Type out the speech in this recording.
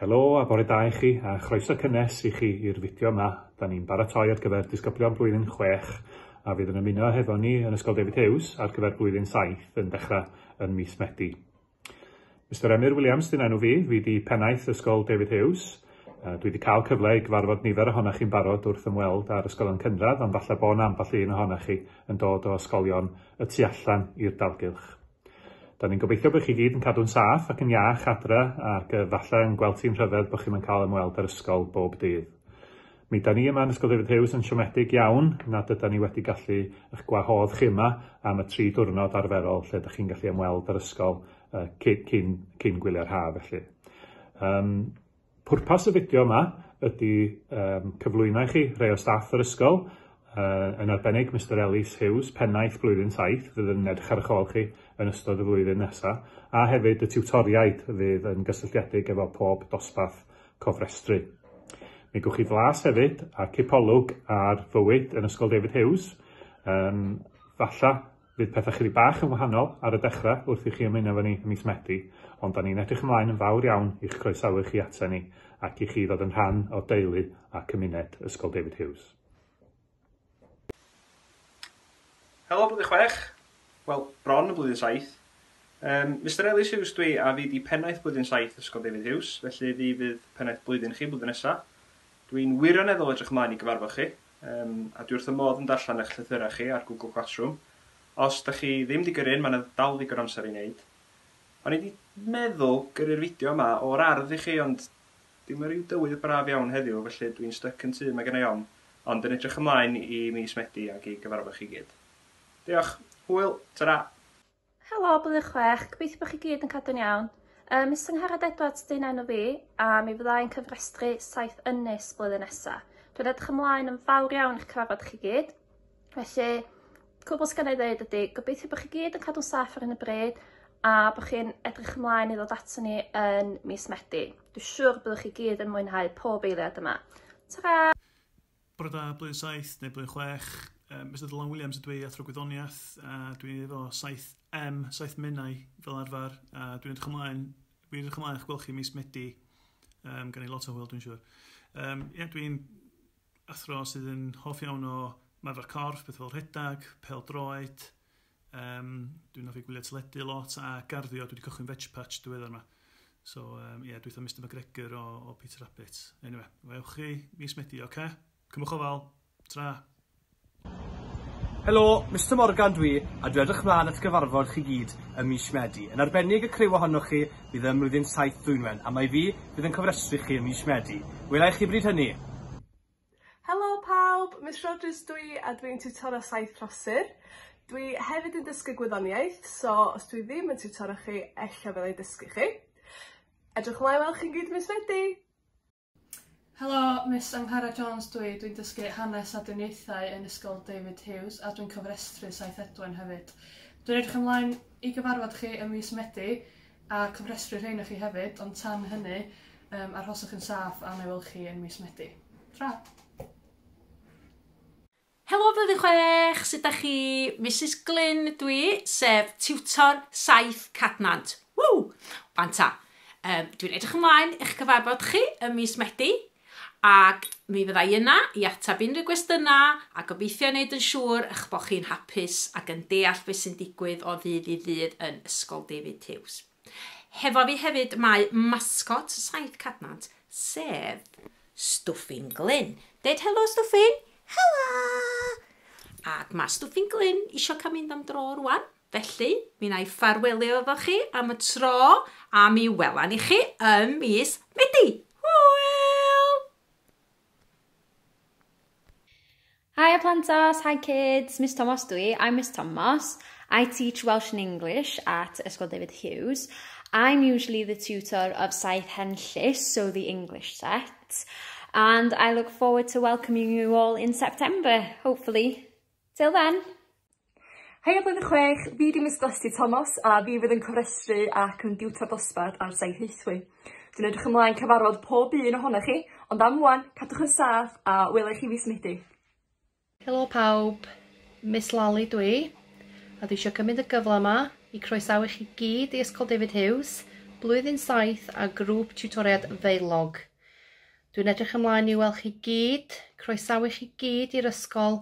Helo a bore da i chi, a chroeso cynnes i chi i'r fideo yma. Da ni'n baratoi ar gyfer disgyblion blwyddyn 6 a fydd yn ymuno hefo ni yn Ysgol David Hughes ar gyfer blwyddyn 7 yn dechrau yn mis Medi. Mr Emyr Williams dyn enw fi, fi di pennaeth Ysgol David Hughes. A dwi wedi cael cyfle i gyfarfod nifer ohonoch chi'n barod wrth ymweld â'r ysgolion cynradd, ond falle bod 'na ambell un ohonoch chi yn dod o ysgolion y tu allan i'r dalgylch. Da ni'n gobeithio bod chi gyd yn cadw'n saff ac yn iach adre ac uh, falle yn gweld ti'n rhyfedd bod chi'n yn cael ymweld â'r ysgol bob dydd. Mi da ni yma yn Ysgol David Hughes yn siomedig iawn nad yda ni wedi gallu eich gwahodd chi yma am y tri diwrnod arferol lle da chi'n gallu ymweld â'r ysgol uh, cyn, cyn, cyn gwylio'r haf felly. Um, Pwrpas y fideo yma ydy um, cyflwyno i chi rhai o staff yr ysgol, uh, yn arbennig Mr Ellis Hughes, pennaeth blwyddyn 7, fydd yn edrych ar eich ôl chi yn ystod y flwyddyn nesaf, a hefyd y tiwtoriaid fydd yn gysylltiedig efo pob dosbarth cofrestru. Mi gwch chi flas hefyd a cipolwg ar fywyd yn Ysgol David Hughes, um, falla Fydd pethau chydig bach yn wahanol ar y dechrau wrth i chi ymuno efo ni ym mis Medi, ond 'da ni'n edrych ymlaen yn fawr iawn i'ch croesawu chi ata ni ac i chi ddod yn rhan o deulu a cymuned Ysgol David Hughes. Helo Blwyddyn Chwech! Wel, bron yn Blwyddyn Saith. Yym, Mister Elis Hughes dwi a fi 'di pennaeth Blwyddyn Saith Ysgol David Hughes, felly fi fydd pennaeth blwyddyn chi blwyddyn nesa. Dwi'n wirioneddol edrych ymlaen i gyfarfod chi. Yym, a dwi wrth fy modd yn darllen eich llythyrau chi ar Google Classroom. Os da chi ddim di gyrru un, mae na dal ddigon o amser i wneud. O'n i di meddwl gyrru'r fideo yma o'r ardd i chi, ond dyw ma ryw dywydd braf iawn heddiw, felly dwi'n styc yn tŷ, mae genna i ofn, ond yn edrych ymlaen i mis Medi ac i gyfarfod chi gyd. Diolch, hwyl, ta-ra! Helo, Blwyddyn Chwech, gobeithio bod chi gyd yn cadw'n iawn. Ym mis Angharad Edwards dyn enw fi, a mi fydda i'n cyfrestru saith ynys blwyddyn nesaf. Dwi'n edrych ymlaen yn fawr iawn i'ch cyfarfod chi gyd. Felly, cwbl sy'n gennau ddeud ydy, gobeithio bod chi gyd yn cadw'n saff ar hyn y bryd, a bod chi'n edrych ymlaen i ddod ato ni yn mis Medi. Dwi'n siŵr byddwch chi gyd yn mwynhau pob eiliad yma. Ta-ra! Bore da, blwyddyn saith neu blwyddyn chwech. Yym, Mister Dylan Williams ydw i, athro gwyddoniaeth, a dwi'n efo saith M, saith menau fel arfer, a dwi'n edrych ymlaen, dwi'n edrych ymlaen i'ch gweld chi mis Medi, um, gan i lot o hwyl dwi'n siŵr. Um, ie, yeah, dwi'n athro sydd yn hoff iawn o marfer corff, beth fel rhedag, pel droed, Yym, dwi'n offi gwylio teledu lot a garddio, dwi wedi cychwyn Veg Patch diweddar yma. So, um, yeah, dwi'n Mr McGregor o, o Peter Rabbit. Anyway, wewch chi mis Medi, oce? Okay? Cymwch o fal. Tra. Helo, Mr Morgan dwi, a dwi edrych mlaen at gyfarfod chi gyd ym mis Medi. Yn arbennig y criw ohonoch chi bydd ym mlwyddyn 7 Dwynwen, a mae fi bydd yn cofrestru chi ym mis Medi. Wela i chi bryd hynny! Helo pawb, Miss Rogers dw i a dwi'n tiwtoro saith rhosir. Dw i hefyd yn dysgu gwyddoniaeth, so os dwi ddim yn tiwtoro chi, ella fyddai'n dysgu chi. Edrych ymlaen weld chi'n gyd mis Medi! Helo, Miss Angharad Jones dw i, dwi'n dysgu hanes a diniaethau yn Ysgol David Hughes a dwi'n cofrestru saith edwyn hefyd. Dwi'n edrych ymlaen i gyfarfod chi ym mis Medi, a cofrestru rhein â chi hefyd, ond tan hynny, um, arhoswch yn saff a na welch chi yn mis Medi. Tra! Helo blwyddyn chwech, sut da chi? Mrs Glyn dwi, sef tiwtor saith Cadnant. Ww! Wanta! Um, dwi'n edrych ymlaen eich cyfarfod chi ym mis Medi. Ac mi fydda i yna i ateb unrhyw gwestiynau a gobeithio i wneud yn siŵr eich bod chi'n hapus ac yn deall beth sy'n digwydd o ddydd i ddydd yn Ysgol David Hughes. Hefo fi hefyd mae mascot Saith Cadnant, sef Stwffyn Glyn. Deud helo Stwffyn! Helo! Ac mae Stwffyn Glyn isio cael mynd am dro rwan. Felly, mi wna i ffarwelio efo chi am y tro, a mi wela ni chi ym mis Medi! Hwyl! Hi Plantos, hi kids, Miss Tomos dwi, I'm Miss Tomos. I teach Welsh and English at Ysgol David Hughes. I'm usually the tutor of Saith Hen Llys, so the English set. And I look forward to welcoming you all in September, hopefully. Till then! Heia Blwyddyn Chwech, fi 'di Miss Glasty Tomos a fi fydd yn cofrestru ac yn diwtor dosbarth ar Sain Hwythwy. Dwi'n edrych ymlaen cyfarfod pob un ohonoch chi, ond am ŵan, cadwch yn saff a wela i chi fis Medi. Helo pawb, Miss Lally dwi, a dwi eisiau cymryd y gyfle yma i croesawu chi gyd i Ysgol David Hughes, Blwyddyn Saith a Grŵp Tiwtoriad Feilog. Dwi'n edrych ymlaen i weld chi gyd, croesawu chi gyd i'r ysgol,